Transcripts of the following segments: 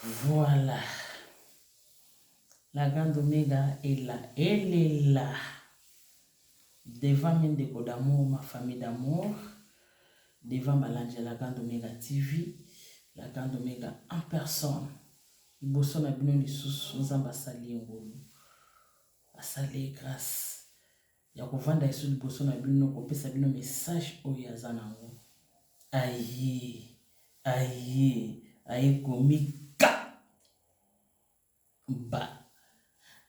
Voilà la grande omega est là elle est là devant mes ndeko d'amour ma famille d'amour devant balandi ya la grande omega tv la grande omega en personne liboso na bino lisusu nzambe asali ye ngolu asali ye grâce ya kovanda lisusu liboso na bino kopesa bino message oyo aza nango aye aye aye komika ba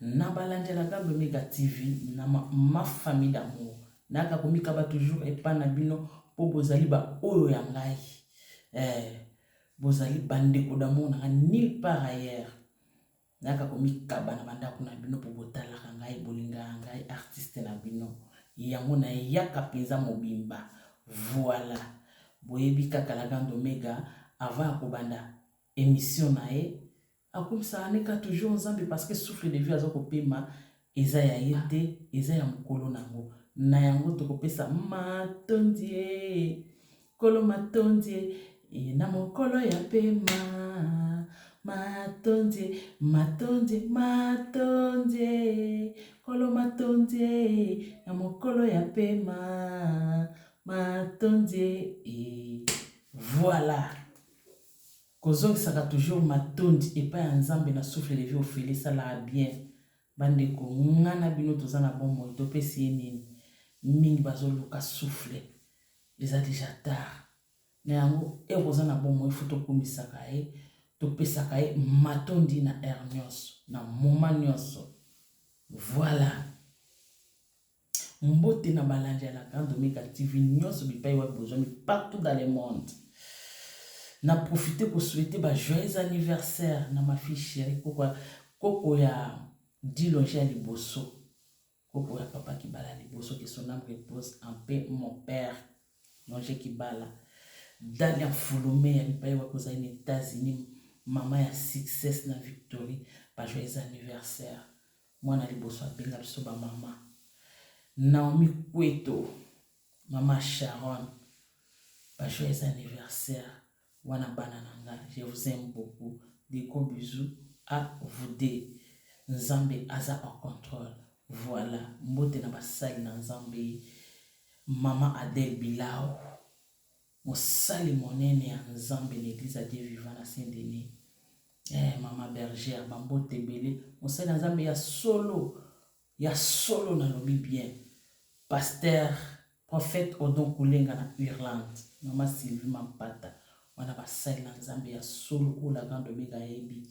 na balandelaka lomega tv na ma, ma famille d'amour naka komikaba toujours epa na bino mpo bozali baoyo ya ngai eh, bozali bandeko d'amour nanga nulle part ailleurs Nayaka komikaba na bandako na bino po botalaka ngai, bolingaka ngai artiste na bino yango nayaka penza mobimba voila boyebi kaka la grande omega avant ya kobanda emission naye akumisaka ne ka toujours nzambe parce que souffle de vie aza kopema Eza ya ye te, eza ya mokolo na yango. Na yango tokopesa matondi ee, Nkolo matondi ee, ee na mokolo ya pema. Matondi ee, matondi, matondi ee, Nkolo matondi ee, na mokolo ya pema. Matondi ee, voilà. Kozongisaka toujours matondi epai ya Nzambe na souffle de vie ofele esalaka bien. Ba ndeko nga na bino toza na bomoi topesi ye nini? Mingi bazo luka souffle eza dejà tard na yango heure oza na bomoi il faut tokumisaka ye topesaka ye matondi na heure nionso na moment nionso voila. Mbote na balandi ya la grande omega TV nionso bipayi wapi bozwami partout dans le monde. Na profiter ko souhaiter ba joyeux anniversaire na ma fille chérie koko ya koko ya Dilonge ya liboso. Koko ya papa Kibala liboso que son âme repose en paix mon père Longe Kibala. Dalia Fulume ya bipayi wapi ozali na États-Unis mama ya success na Victory ba joyeux anniversaire. Mwana liboso abenga biso ba mama. Naomi Kweto, mama Sharon, ba joyeux anniversaire wana bana na nga je vous aime beaucoup des gros bisous a vous deux nzambe aza en controle voila mbote na basali na nzambe mama Adele Bilao Mosali monene ya Nzambe na eglise ya Dieu vivant na Saint Denis. Eeh maman Bergère ba mbote ebele mosali ya Nzambe ya solo ya solo na lobi bien pasteur prophète Odon Kulenga na Irlande maman Sylvie Mampata wana ba sali na Nzambe ya solo oyo la grande omega ya yebi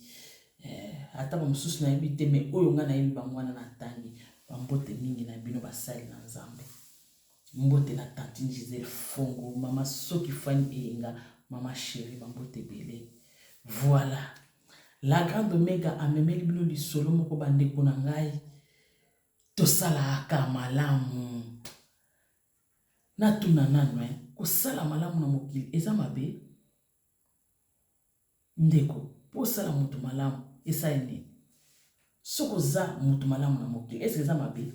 eh, ata ba mosusu na yebi te mais oyo nga na yebi bango wana na tangi ba mbote mingi na bino ba sali na Nzambe. Mbote na tantine Gisèle fongo mama soki fany eyenga mama cherie ba mbote ebele voila la grande omega amemeli bino lisolo moko ba ndeko na ngai tosalaka malamu natuna nanu hein kosala malamu na mokili eza mabe ndeko po osala mutu malamu esali nini soki oza mutu malamu na mokili est ce que eza mabe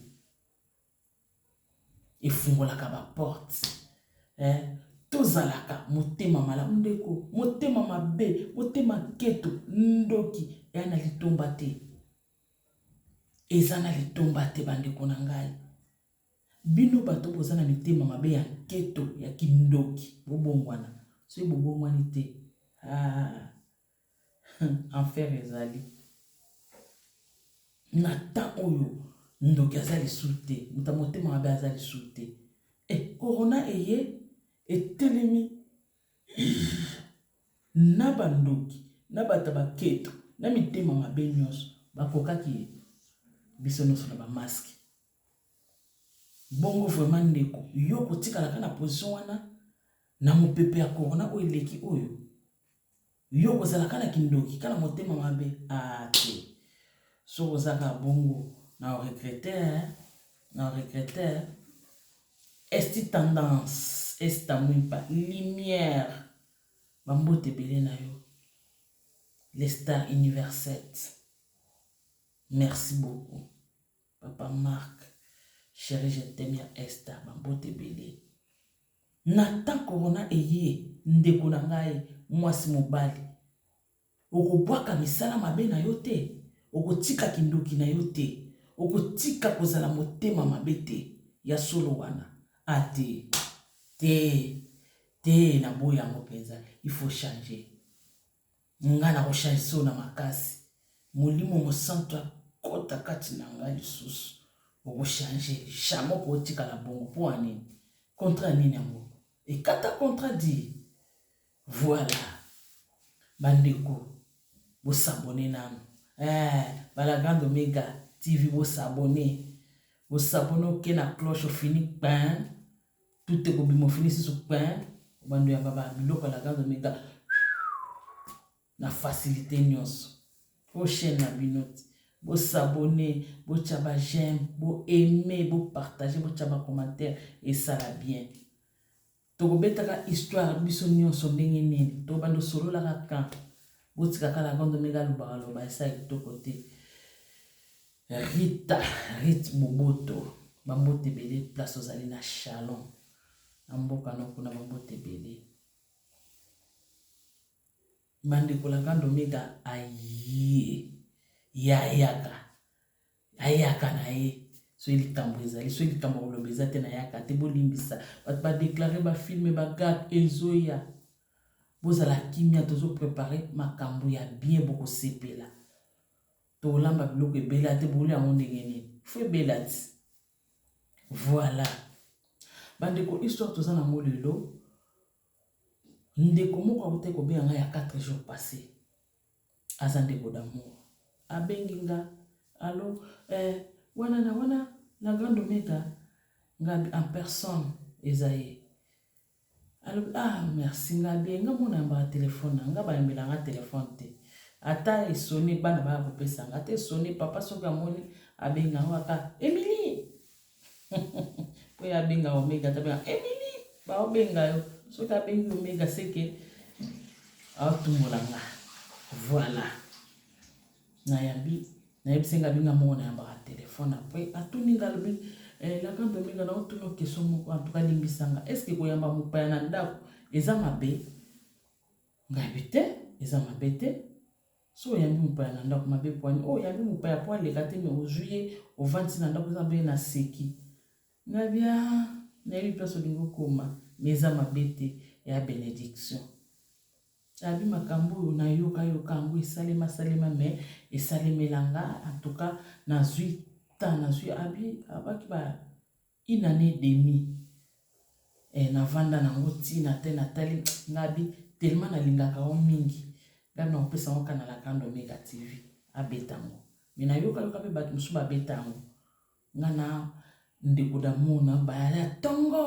efungolaka ba porte eh tozalaka motema malamu ndeko motema mabe motema keto ndoki eya na litomba te eza na litomba te bandeko na ngai bino bato boza na mitema mabe ya keto ya kindoki bobongwana soki bobongwani te ah. Hum enfer ezali na temps oyo ndoki aza lisusu te moto ya motema mabe aza lisusu te e corona eye etelemi na bandoki na bato ya baketo na mitema mabe nyonso bakokaki ye biso nyonso na bamaske bongo vraiment ndeko yo kotikalaka na position wana na mopepe ya corona oyo eleki oyo Yo kozala kana kindoki kana motema mabe ah te soki oza kaka bongo na regrete na regrete esti tendance esta mwimpa lumière bambote ebele na yo le star universel merci beaucoup Papa Marc cheri je t'aime ya Esther ba mbote ebele na temps corona eye ndeko na ngai muasi mobali okobuaka misala mabe na yo te okotika kindoki na yo te okotika kozala motema mabe te ya solo wana a te te te na boyi yango penza il faut changer. Nga nako change soo na makasi molimo mosantu akota kati na nga lisusu oko change jamais oko otikala bongo po na nini contrat nini yango ekata contrat di voila ba ndeko bo s'abonner nanu eh ba la grande omega TV bo s'abonner bo s'abonner oke na cloche ofini pin tout ekobima ofini susu pain obando yamba ba biloko ya laganza omega na facilité nyonso oyo chaîne na bino ti bosabone botya ba j'aime boaime bopartage botya bacommentaire esala bien tokobetaka histoire biso nyonso ndenge nini tobanda osololaka kan botikaka laganza omega alobaka loba esala kitoko te Rita Rit Boboto ba mbote ebele place ozali na Chalon na mboka no kuna ba mbote ebele bandeko la grande omega aye ye ayaka ayaka na ye soki likambo ezali soki likambo koloba eza te nayaka te bolimbisa bato badeklare bafilme bagag ezoya bozala kimia tozoprepare makambo ya bien bokosepela Tolamba biloko ebela te bolia yango ndenge nini? Fo ebela ti. Voilà. Bandeko histoire toza nango lelo ndeko moko akuta kobenga ngai ya 4 jours passé aza ndeko d'amour abengi nga alo eh, wana na wana na grande omega nga en personne eza ye Alobi ah merci nga bien nga mwana yambaka telephone na nga bayambela nga telephone te ata esone bana baya kopesa nga ata esone papa soki amoni abenga yango aka Emilie po ye abenga omega ata benga Emilie baobenga yo soki abengi omega seke aotumola nga voilà Na yambi, na yebisi nga abenga moko na yambaka telephone après atuni nga alobi eh la grande Dominga na otuni yo question moko en tout cas limbisa nga est ce que ko yamba mopaya na ndaku eza mabe? Nga yebi te eza mabe te soki oyambi mopaya na ndaku mabe pwani oyambi mopaya po aleka te mais ozui ye ovandisi na ndaku eza mabe na seki Nadia nayebi place olingi okoma mais eza mabe te ya benediction abi makambo oyo nayoka yoka yango esalema salema mais esalemela nga en tout cas nazwi temps nazwi abi abaki ba une année et demi eh, navanda nango ntina te natali nga abi tellement nalingaka yo mingi nga nakopesa yango kanala kando mega tv abeta yango me nayoka yoka mpe bato mosusu babeta yango Nga na ndeko d'amour na baya ya tongo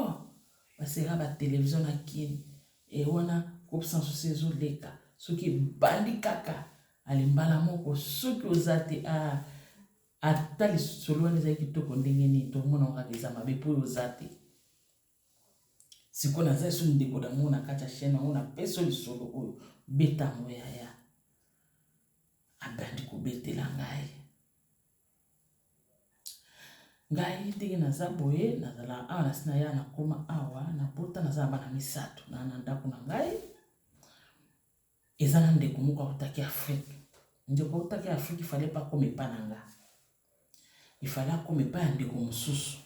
ba sera ba television na kin et wana groupe sans souci ezo leka soki ebandi kaka ale mbala moko soki oza te ah ata lisolo wana ezali kitoko ndenge nini tokomona kaka eza mabe mpo oza te sikoyo naza lisusu ndeko d'amour na kati ya chaine yango napesi lisolo oyo beta yango yaya abandi kobetela ngai Ngai ndenge naza boye nazala awa nasi na ya na koma awa na bota naza na bana misato na na ndako na ngai eza na ndeko moko autaki afrique ndeko autaki afrique ifale pe akoma epa na nga ifale akoma epa ya ndeko mosusu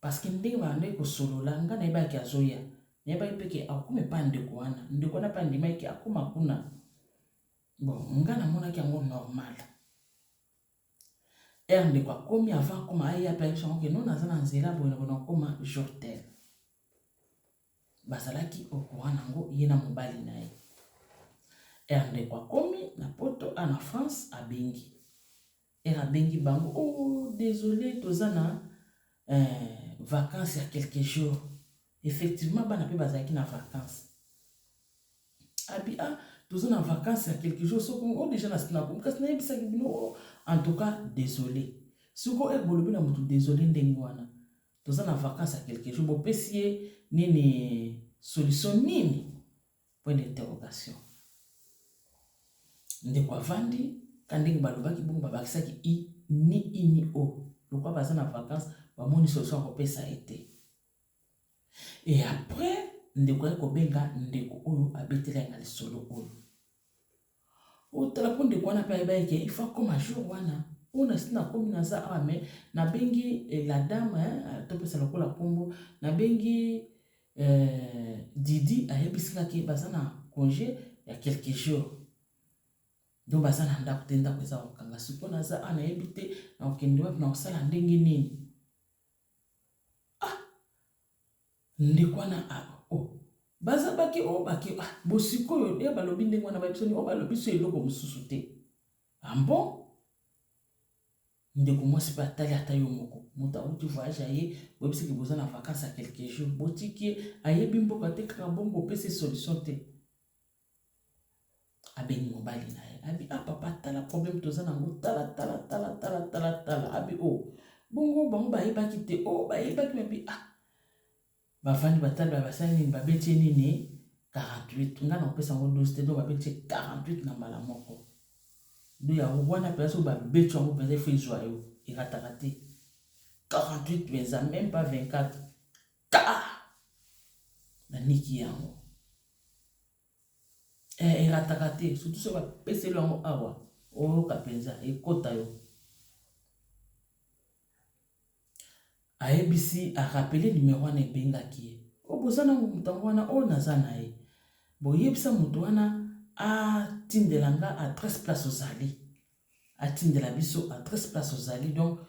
parceke ndenge ba bandaki kosolola nga nayebaki ke azoya nayebaki pe ke akokoma epa ya ndeko wana ndeko wana pe andimaki ke akoma kuna. Bon nga na monaki yango normal. Heure ndeko akomi avant akoma aye ape ayebisa yango ke non naza na nzela boye na boye nakoma jour tel. Bazalaki au courant na yango ye na mobali na ye. Heure ndeko akomi na poto ah na France abengi. Heure abengi bango ooh desole toza na eh vacances ya quelques jours effectivement bana pe bazalaki na vacances abi ah toza na vacances ya quelques jours soki o deja na sinakomi kasi nayebisaki bino o en tout cas desole soki oye bolobi na motu desole ndenge wana toza na vacances ya quelques jours bopesi ye nini solution nini Point d'interrogation. Ndeko avandi, kaka ndenge balobaki bongo, babakisaki i, ni i ni o. Lokola baza na vacance, bamoni solution ya kopesa ye te. Et après, ndeko aye kobenga ndeko oyo abetela ye na lisolo oyo. Otala po ndeko wana pe ayebaki ke il faut akoma jour wana oyo na si nakomi naza awa mais nabengi eh, la dame hein, topesa lokola nkombo nabengi eh, didi ayebisika ke baza na congé ya quelques jours donc baza na ndako te ndako eza kokanga sikoyo naza awa nayebi te nakokende wapi nakosala ndenge nini Ndeko wana a o baza bake o bake a bo sikoyo e ba lobi ndenge wana ba yebisani o ba lobi so eloko mosusu te a bon? Ndeko mwasi pe atali ata yo moko moto awuti voyage aye bo yebisi ke boza na vacance ya quelques jours bo tiki ye a yebi mboka te kaka bongo opesi ye solution te. Abengi mobali na ye, abi ah papa tala problème toza na yango tala tala tala tala tala tala, abi oh bongo bango bayebaki te? Oh bayebaki mais abi ah bavandi batali baye basali nini babeti ye nini 48 nga na kopesa yango 12 te donc babeti ye 48 na mbala moko donc yango wana mpenza soki babeti yango mpenza il faut ezwa yo erataka te 48 mpenza meme pas 24 Ta! Na niki yango. Eh, erataka te, surtout soki bapeseli yango awa, oyoka mpenza, ekota yo. ayebisi arapele nimero wana ebengaki ye o oh, boza na moto yango wana oyo oh, naza na ye boyebisa moto wana atindela nga adresse place ozali atindela biso adresse place ozali donc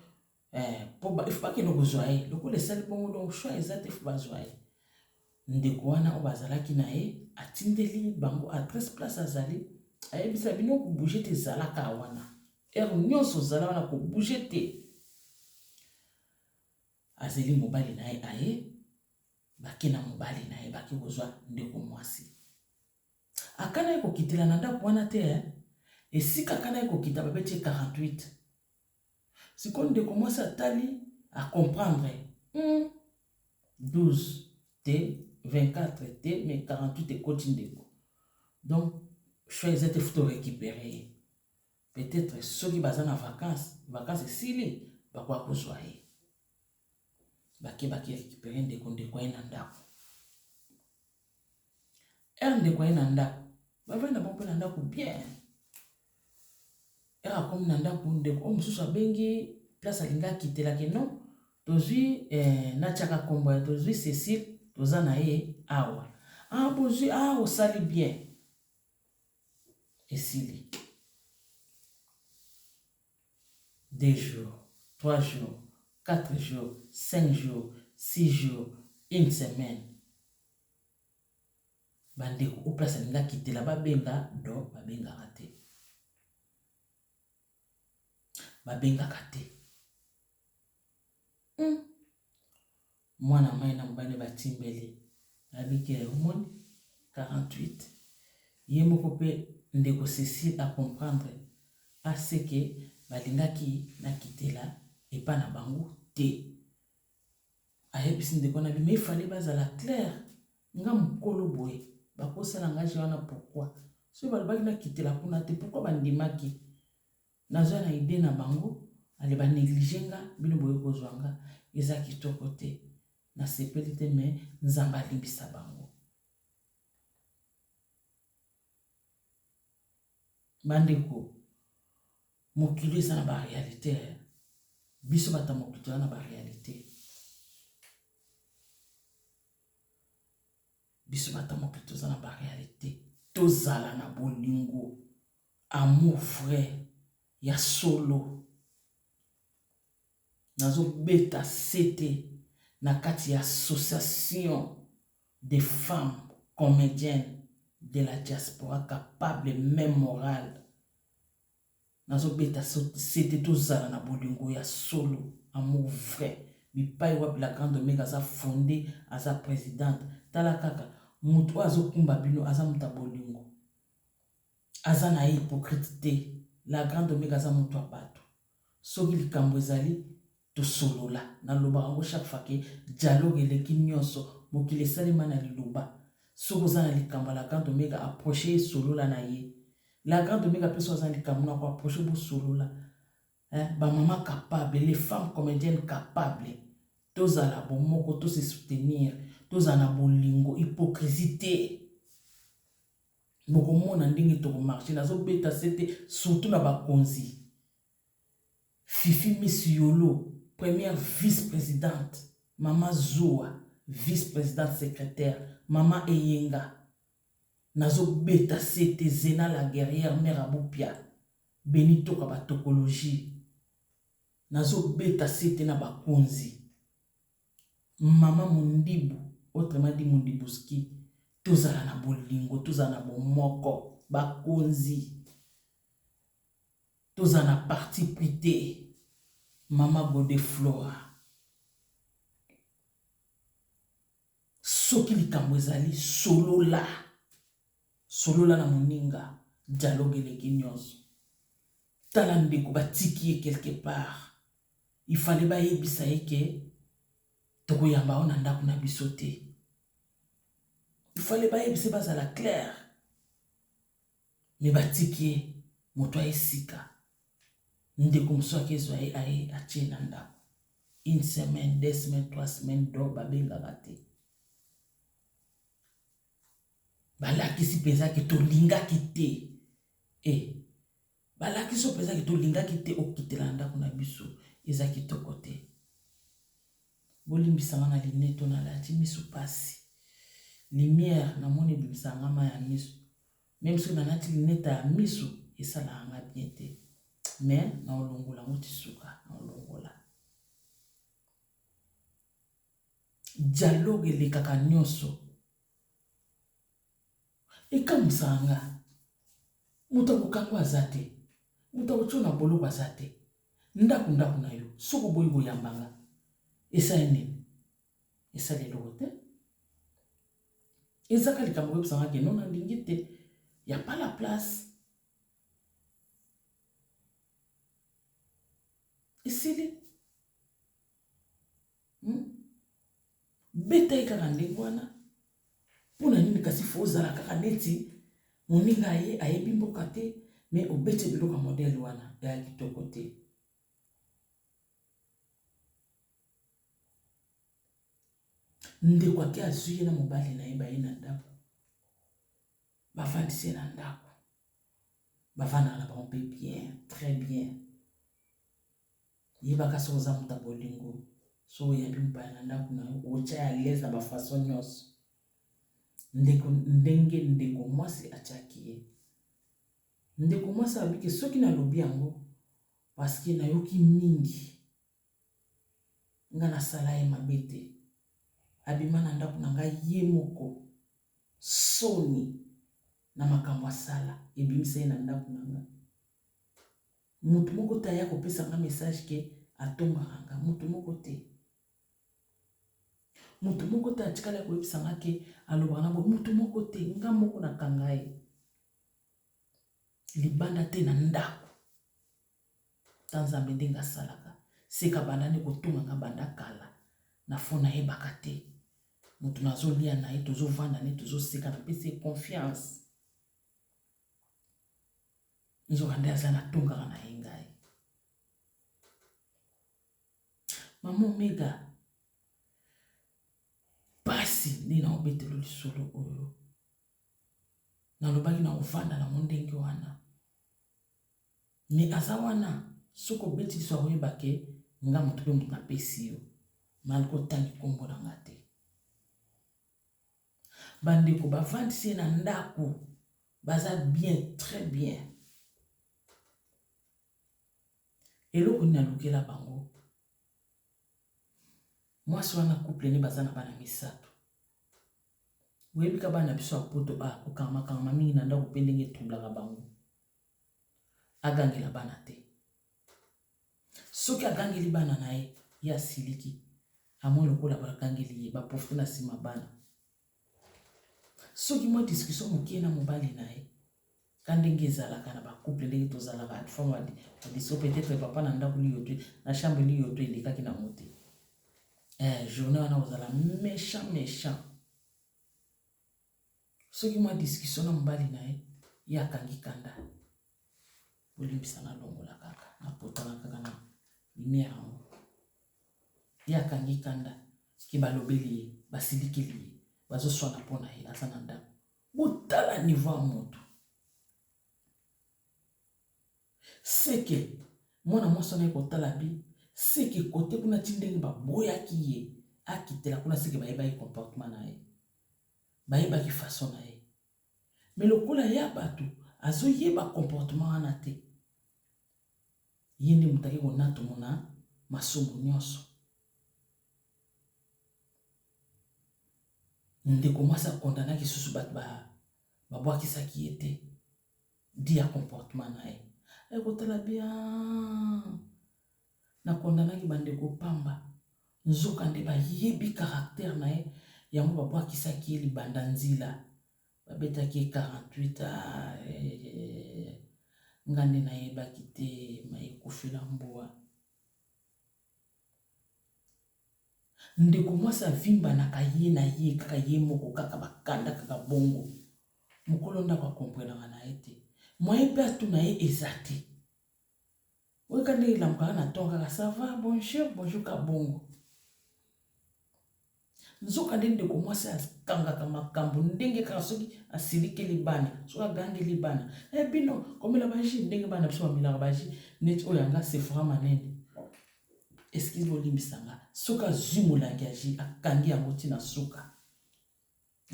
eh, po il faut bakende kozwa ye lokola esali bongo donc choix eza te faut bazwa ye ndeko wana oyo bazalaki na ye atindeli bango adresse place azali ayebisa bino kobouge te ezalaka wana ere nyonso ozala wana kobouge te azeli mobali na ye aye bake na mobali na ye bake kozwa ndeko mwasi akanaki kokitela na ndako wana te eh? esika akanaki kokita babeti 48 Sikoyo ndeko mwasi atali a comprendre hum 12 te 24 te mais 48 ekoti ndeko donc choix eza te futa orecupere ye peut-être soki baza na vacance vacance esili bakoya kozwa ye bakebaki récupérer ndeko ndeko aye na ndako heure ndeko aye na ndako bavandi na bango mpe na ndako bien heure akomi na ndako ndeko oyo mosusu abengi place alingi akitela ke non tozwi eh, natiaka nkombo ya tozwi cecile toza na ye awa ah bozwi ah osali bien esili deux jours, trois jours, quatre jours, cinq jours, six jours, une semaine ba ndeko o place alingi akitela ba benga do ba bengaka te ba bengaka te. Hum. Mwana mayi na mobali naye batimbeli Abigail, omoni? 48 ye moko pe ndeko Cecile a comprendre a ce que balingaki nakitela epa na bango te, ayebisi ndeko nabi mais il fallait bazala claire, nga mukolo boye bakosela nga jeu wana pourquoi? Soki balobaki nakitela kuna te pourquoi bandimaki? Naza na idee na bango ale ba neglige nga bino boye kozua nga eza kitoko te na sepeli te mais nzambe alimbisa bango. Bandeko mokili eza na ba realite eh. biso bata mokili toza na ba realite biso bata mokili toza na ba realite tozala na bolingo Amour vrai ya solo. Nazo beta sete na kati ya association des femmes comediennes de la diaspora capable meme morale. Nazo beta sete tozala na bolingo ya solo, amour vrai. Bipayi wapi la grande Omega aza fonde, aza presidente. Tala kaka, mutu oyo azo kumba bino aza mutu ya bolingo. Aza naye hypocrite te la grande omega aza mutu ya batu soki likambu ezali tosolola nalobaka ngo chaque fois ke dialogue eleki nionso mokili esalema na liloba soki oza na likambu ya la grande omega approche ye solola na ye la grande omega pe soki aza na likambu nako approche bosolola hein ba mama capable les femmes comediennes capable tozala bomoko to se soutenir tozala na bolingo hypocrisie te. Bokomona ndenge toko marche nazo beta sete surtout na ba konzi fifi miss yolo première vice presidente mama zuwa vice presidente secretaire mama eyenga nazo beta sete zena la guerrière mère abupia beni toka ba tokologie nazo beta sete na ba konzi Maman mundibu autrement dit mundibuski tozala na bolingo tozala na bomoko ba konzi tozala na parti pris te maman godeflora soki likambo ezali solola solola na moninga dialogue eleki nyonso tala ndeko batiki ye quelque part il fallait bayebisa ye ke tokoyamba yo na ndako na biso te il fallait bayebisa bazala claire me batiki ye moto aye sika ndeko mosusu ake ezwa ye aye atie na ndako une semaine deux semaines trois semaines do babengaka te balakisi mpenza ke tolingaki te e eh, Balakisi oyo mpezaki tolingaki te okitela na ndako na biso eza kitoko te bolimbisanga na lineto nalati miso mpasi lumière namoni ebimisaka nga mai ya miso meme soki nalati lineta ya miso esalaka nga bien te me naolongola yango ti suka naolongola dialogue elekaka nyonso Ekamwisaka nga. Moto ya kokangwa aza te. Moto ya kotio na boloko aza te. Ndako ndako na yo. Soki oboyi koyamba nga. Esali nini? Esali eloko te. Eza ka likambo koyebisa nga ke non na lingi te. Ya pas la place. Esili. hmm? beta ye kaka ndenge wana mpo na nini kasi fo ozala kaka neti moninga ye ayebi mboka te me obeti biloko ya modele wana ya kitoko te ndeko ake azwi ye na mobali na ye baye na ndako bafandisi ye na ndako bafandaka na bango mpe bien très bien Yebaka soki oza moto ya bolingo, soki oyambi mopaya na ndako na yo, otya ye à l'aise na ba façon nyonso. Ndeko, ndenge ndeko mwasi atyaki ye. Ndeko mwasi alobi ke soki nalobi yango parce que nayoki mingi nga nasala ye mabe te. Abima na ndako na ngai ye moko, soni na makambo asala ebimisa ye na ndako na nga. Mutu moko te aya kopesa nga message que atombaka nga, mutu moko te. Mutu moko te atikala koyebisa nga que alobaka na boye, mutu moko te. Nga moko na kanga ye libanda te na ndaku. Tala Nzambe ndenge asalaka. Seke abandaki kotonga nga banda kala na faux nayebaka te. Mutu nazo lia na ye, tozo vanda na ye, tozo seka, napesi ye confiance. nzoka nde aza na tongaka na ye ngai mama omega mpasi nde na obetelo lisolo oyo nalobaki na ofanda na mondenge wana me aza wana soki obeti liso akoyeba ke nga moto mpe moto napesi yo malko otangi nkombo na nga te Bandeko bavandisi ye na ndaku baza bien très bien eloko nini alukela bango mwasi wana couple ne baza na bana misato boyebika bana biso ya poto bakokangama kangama mingi na ndako mpe ndenge etroublaka bango Agangela bana te. Soki agangeli bana na ye, ye asiliki. Amoni lokola bagangeli ye, ba profite na sima bana. Soki mwa discussion mokie na mobali na ye, ka ndenge ezalaka na ba couple ndenge tozalaka at fond ba discussion peut-être papa na ndaku liyo te, na chambre liyo te elekaki na ngo te. Eh, journée wana ozala mechant mechant. Soki mwa discussion na mobali na ye, ye akangi kanda. Bolimbisa na longola kaka, na potana kaka na lumière yango. Ye akangi kanda, ke balobeli ye, basilikeli ye, bazo swana po na ye, aza na ndaku. Botala niveau ya mutu. Seke mwana mwasi wana aye kotala bi seke kote kuna ti ndenge baboyaki ye akitela kuna seke bayebaki comportement na ye bayebaki façon na ye me lokola ya bato azoyeba comportement wana te ye nde moto ake konatomo na masumu nyonso ndeko mwasi akondanaki susu bato babwakisaki ye te dit ya comportement na ye aye kotala bien na kondanaki bandeko pamba nzokande bayebi caractère na ye yango babwakisaki ye libanda nzila babetaki ye 48 ah, eh, eh, nga nde nayebaki te mayekufela mbua Ndeko mwasi avimbanaka ye na ye kaka ye moko kaka ba kanda kaka bongo mokolo ndako a comprenaka na ye te moyen pe atuna ye eza te oyo ka ndenge elamukaka na ton kaka ça va bonjour bonjour ka bongo Nzokande, ndeko mwasi akangaka makambo ndenge kaka soki asilikeli bana, soki agangeli bana, e bino komela baji ndenge bana biso bamelaka baji neti oyo yanga sefora manene eskize bolimbisa nga soki azwi molangi ya ji akangi yango ntina suka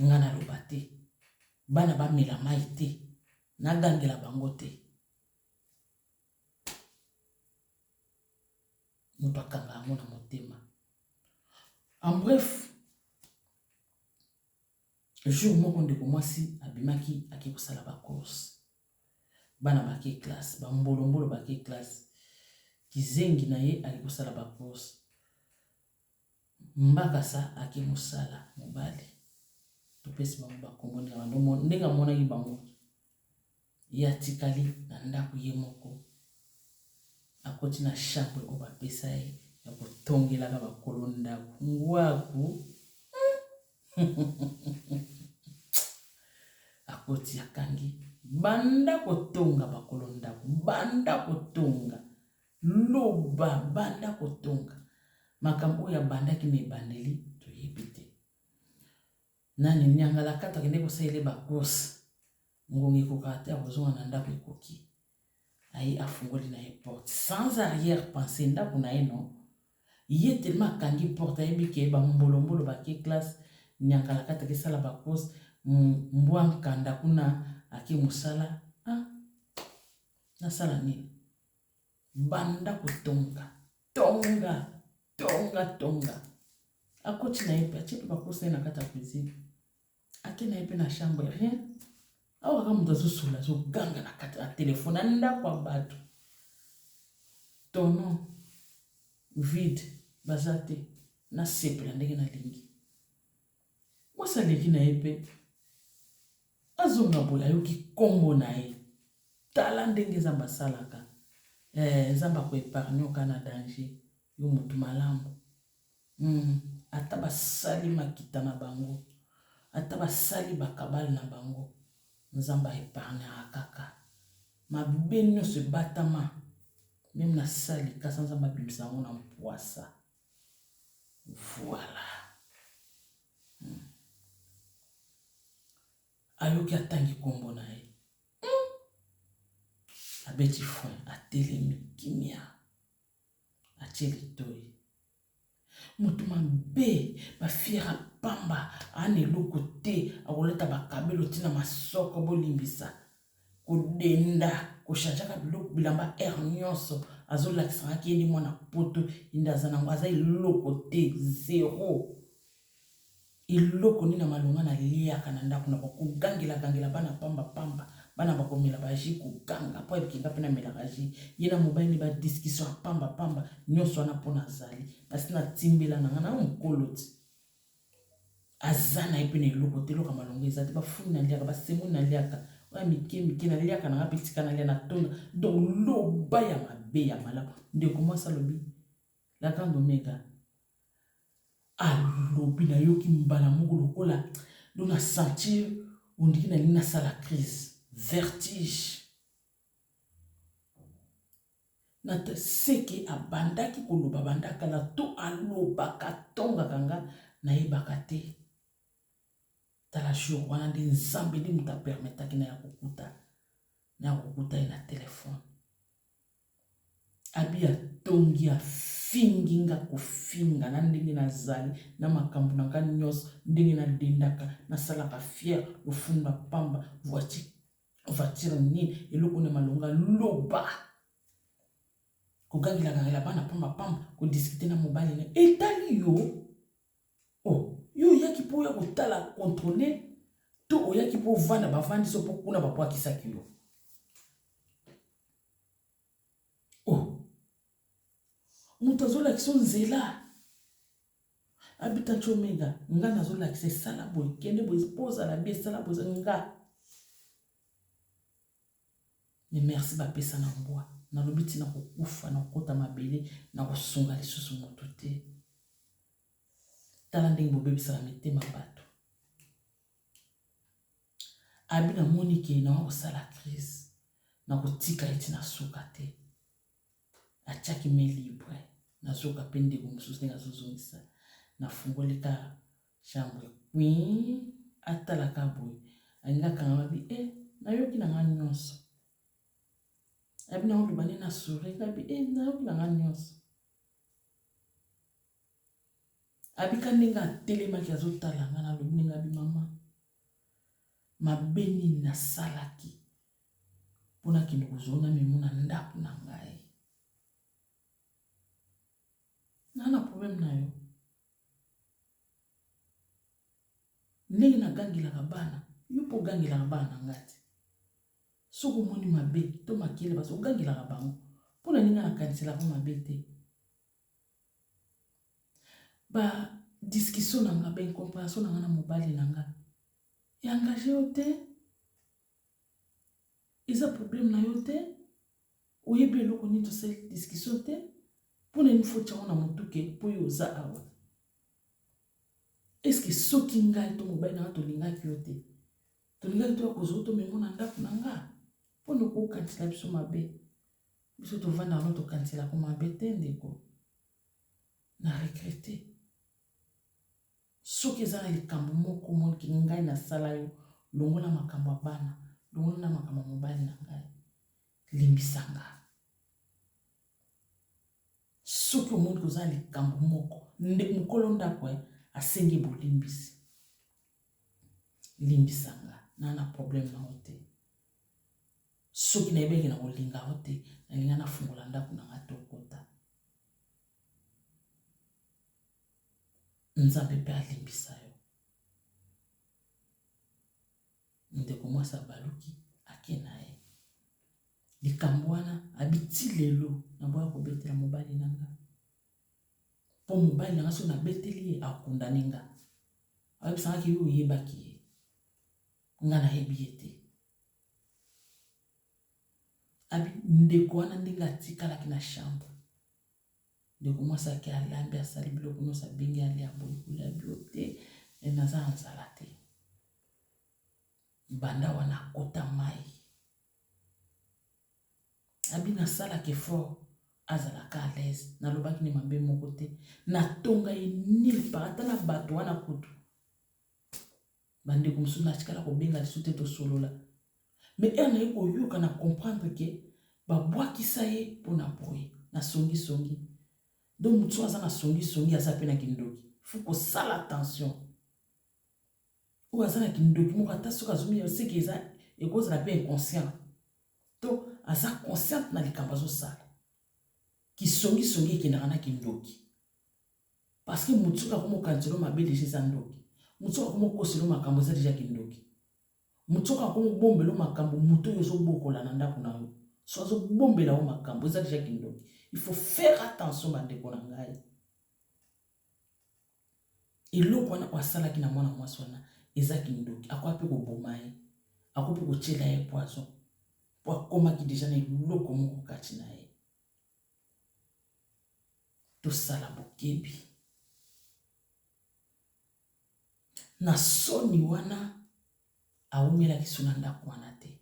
nga naloba te bana bamela mai te nagangela bango te moto akanga yango na motema en bref jour moko ndeko mwasi abimaki ake kosala bacourse bana bake classe bambolombolo bake classe kizengi na ye ake kosala bacourse Mbakasa ake musala mobali topesi bango ba kombo ndenge bano ndenge amonaki bango ye atikali na ndako ye moko akoti na chambre oyo bapesa ye ya kotongelaka bakolo ndako ngwaku akoti akangi banda kotonga bakolo ndako banda kotonga Loba, banda kotonga. Makambo oyo abandaki na ebandeli, toyebi te. Nani, nyangalakata akende kosalela ye ba course. Ngonga ekokaka te akozonga na ndako ekoki. Aye afungoli na ye porte. Sans arrière pensée, ndako na ye non. Ye tellement akangi porte ayebi ke ba mbolombolo bake classe, nyangalakata ake sala ba course, mbwa nkanda kuna ake mosala. Ah! Nasala nini? Banda kotonga. Tonga. Tonga, tonga. Akoti na ye pe, atie pe bakosa ye na kati ya cuisine. Ake na ye pe na chambre, rien. Awa kaka moto azosola, azoganga na kati ya telefone, na ndako ya bato. Tonon vide, baza te. Nasepela ndenge nalingi. Mwasi aleki na ye mpe azonga boye ayoki nkombo na ye. Tala ndenge Nzambe asalaka. Eh, Nzambe akoepargne oka na danger, yo motu malamu. Mm, ata basali makita na bango, ata basali bakabale na bango, Nzambe aepargnaka kaka. Mabe nyonso ebatama, meme na sali kasa Nzambe abimisa yango na mpwasa. Voilà. Hum. Ayoki atangi kombo na ye. Hum. Abeti fon, atelemi kimia. Atie litoi. Moto mabe, bafiera pamba, ana eloko te, akolata bakabelo tina masoko bolimbisa. kodenda kochangeaka biloko bilamba aire nyonso azolakisangaki ye nde mwana poto ende aza nango aza eloko te zero eloko nini na malonga naliaka na ndako na kogangelagangela bana pamba pamba bana bakomela baji koganga mpo ayebiki nga mpe namelaka ji ye na mobali nde badiskussion ya pamba pamba nyonso wana mpo nazali nasi natimbela na nga na mokolo ti aza na ye mpe na eloko te loka malonga eza te bafuni naliaka basembo naliaka oya mike mike naliaka nanga mpe tika nalia na tonda donc loba ya mabe ya malamu ndeko mwasi alobi la grande omega alobi nayoki mbala moko lokola do na sentir ondiki nalingi nasala crise vertige Nathan seke abandaki koloba banda kala to alobaka atongaka nga nayebaka te tala jour wana nde nzambe nde mutu a permetaki naya kokuta naya kokuta ye na telephone abi atongi afingi nga kofinga na ndenge nazali na makambu na nga nionso ndenge na dendaka nasalaka fier lofundu ya pamba voiture voiture nini eloko na malonga loba kogangelagangela bana pamba pamba kodiskute na mobali na etali yo o oh, yo oyaki mpo oya kotala controle to oyaki mpo ovanda bavandisi mpo kuna babwakisaki yo oh moto azolakisa nzela abita comega nga nazolakisa esala boye kende boye mpo ozala bi esala boye nga me merci bapesa na mbwa nalobi ntina kokufa na kokota mabele na kosunga lisusu moto te tala ndenge bobebisaka mitema bato Abi na moni ke nawa kosala crise nako tika ye ti na suka te atiaki main libre nazoka pe ndeko mosusu ndenge azozongisa na fungoli ka chambre queen atala ka boye alingi akanga mabi e eh, nayoki na nga nyonso abi na oloba nde na sure ngabi e eh, nayoki na nga nyonso Abika ndenge atelemaki azotala nga na lobi ndenge abi mama mabe nini nasalaki mpo nakende kozwa na memo na ndako na ngai naa na probleme na yo Ndenge na gangelaka bana, yo mpe ogangelaka bana na ngai te. Soki omoni mabe to makele bazo ogangelaka bango. Mpo na nini ngai nakaniselaka mabe te? Ba discussion na nga, ba incomprehension na nga na mobali na nga, e engage yo te? eza problème na yo te oyebi eloko nini tosali discussion te mpo na nini foti yango na motuke mpo yo oza awa eske soki ngai to mobali na nga tolingaki yo te tolingaki toya kozwa tomemo na ndako na nga mpo na kokanisela biso mabe biso tovanda yango tokaniselako mabe te ndeko na regrete Soki eza na likambo moko moke ngai nasala yo, longola makambo ya bana, longola na makambo ya mobali na ngai, limbisa nga. Soki omoni koza na likambo moko, nde mokolo ndako eh, asengi bolimbisi, limbisa nga, na na problème na yo te. Soki nayebi eke nakolinga yo te, nalinga nafungola ndako na nga tokota. Nzambe pe alimbisa yo. Ndeko mwasi abaluki ake na ye. Likambo wana abi ti lelo naboya kobetela mobali na nga. Mpo mobali na nga soki nabeteli ye akundani nga. Ayebisa nga ke yo oyebaki ye. Nga nayebi ye te. Abi ndeko wana ndenge atikalaki na chambre. Ndeko mwasi ake alambi asali biloko nyonso abengi alia boye kolia bio te me naza na nzala te banda wana akota mai abi nasalaka effort azalaka à l'aise nalobaki ne mabe moko te natonga ye nil par ata na bato wana kutu Bandeko mosusu natikala kobenga lisusu te tosolola. Mais heure naye koyoka na comprendre ke babwakisa ye mpo na boye na songisongi. Donc moto soki aza na songisongi aza mpe na kindoki. Faut kosala attention. Oyo aza na kindoki moko ata soki azomina seke eza ekozala mpe inconscient. To aza consciente na likambo azosala. Kisongisongi ekendaka na kindoki. Parce que mutu soki akomi kokanisa yo mabe dejà eza ndoki. Mutu soki akomi kokosela yo makambo eza dejà kindoki. Mutu soki akomi kobombela yo makambo moto oyo ozobokola na ndako na yo soki azobombela yo makambo eza dejà kindoki. Il faut faire attention bandeko na ngai. Eloko wana oyo asalaki na mwana mwasi wana eza kindoki. Akoya mpe koboma ye. Akoki mpe kotyela ye poison mpo akomaki deja na eloko moko kati na ye. tosala bokebi na soni wana awumelaki so na ndako wana te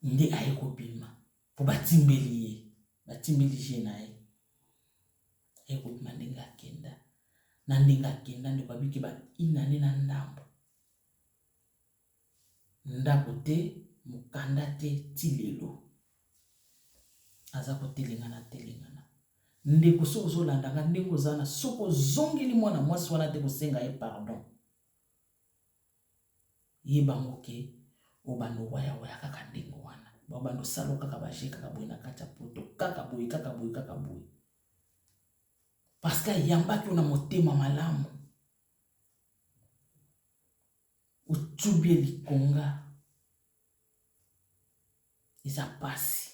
nde aye kobima mpo batimbeli ye batimbeli je na ye aye kobima ndenge akenda na ndenge akenda ndeko abiki ba inane na ndambo Ndako te, mokanda te ti lelo. Aza ko telengana telengana. Ndeko soki ozo landa nga ndenge oza wana soki ozongeli mwana mwasi wana te kosenga ye pardon. Yeba ngo ke obanda owaya waya kaka ndenge wana. Obanda osala kaka ba jeux kaka boye na kati ya poto. Kaka boye kaka boye kaka boye. Parce que ayambaki yo na motema malamu. Otubie likonga eza pasi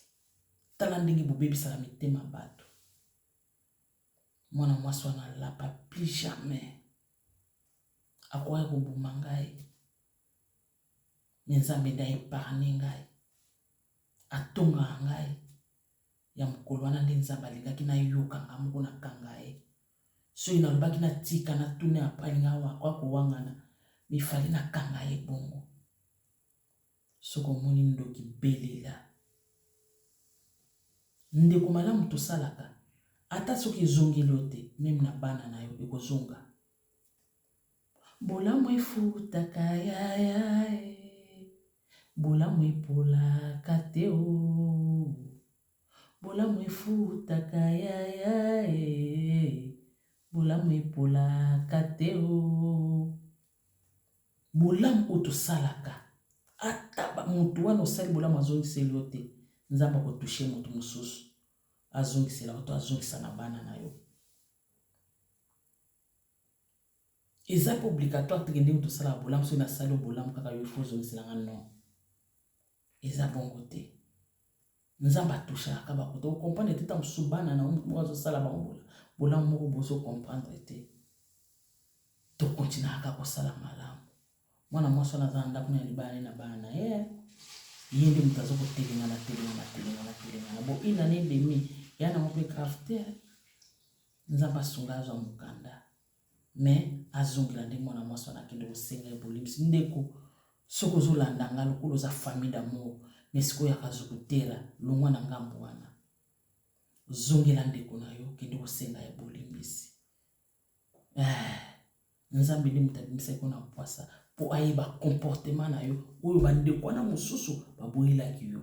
tala ndenge bobebisaka mitema batu mwana mwasi wana alapa plus jamais akokaki koboma ngai me nzambe nde aepargne ngai atongaka ngai ya mokolo wana nde nzambe alingaki nayokanga moko na kanga ye Soki nalobaki natika natuna ya alingi akoya kowangana mais il fallait nakanga ye bongo. Soki omoni ndoki belela. Ndeko malamu tosalaka ata soki ezongeli yo te meme na bana na yo ekozonga. Bolamu efutaka yaya eh. Bolamu epolaka te oh. Bolamu efutaka yaya eh. Bolamu epolaka te oh. Bolamu oyo tosalaka ata ba mutu wana osali bolamu azongiseli yo te nzambe ako touche mutu mosusu azongisela yo to azongisa na bana na yo Eza pe obligatoire te que ndenge tosalaka bolamu soki nasali yo bolamu kaka yo il faut ozongisela nga non eza bongo te nzambe atouchaka ka bakoto okomprendre te ntango mosusu bana na motu moko azosala bango bolamu moko bozo comprendre te tokontinaka kaka kosala malamu mwana mwasi wana aza na ndako na libala ne na bana na ye ye nde moto aza kotelengana telengana telengana telengana bo inane demi ya nango mpe grave te Nzambe asunga azwa mukanda mais azongela nde mwana mwasi wana akende kosenga ye bolimbisi ndeko soki ozolanda nga lokola oza famille d'amour mais sikoyo akazukutela longwa na ngambo wana zongela ndeko na yo kende kosenga ye bolimbisi eh, nzambe nde moto abimisaki yo na mpwasa mpo ayeba comportement na yo oyo bandeko wana mosusu baboyelaki yo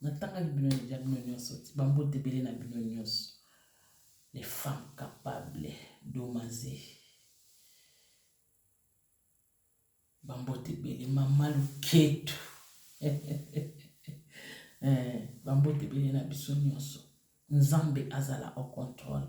Natangaki bino dejà bino nionso ti ba mbote ebele na bino nionso les femmes capables domaze ba mbote ebele mama luketu eh, ba mbote ebele na biso nionso nzambe azala au contrôle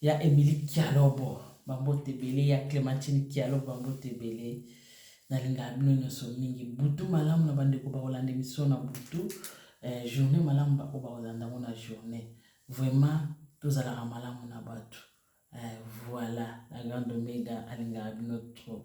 Ya Emilie Kialobo ba mbote ebele ya Clementine Kialobo ba mbote ebele nalingaka bino nionso mingi butu malamu na bandeko bakolanda emission na butu eh, journée malamu baoyo bakolanda yango na journée vraiment tozalaka malamu na bato eh, voilà la grande omega alingaka bino trop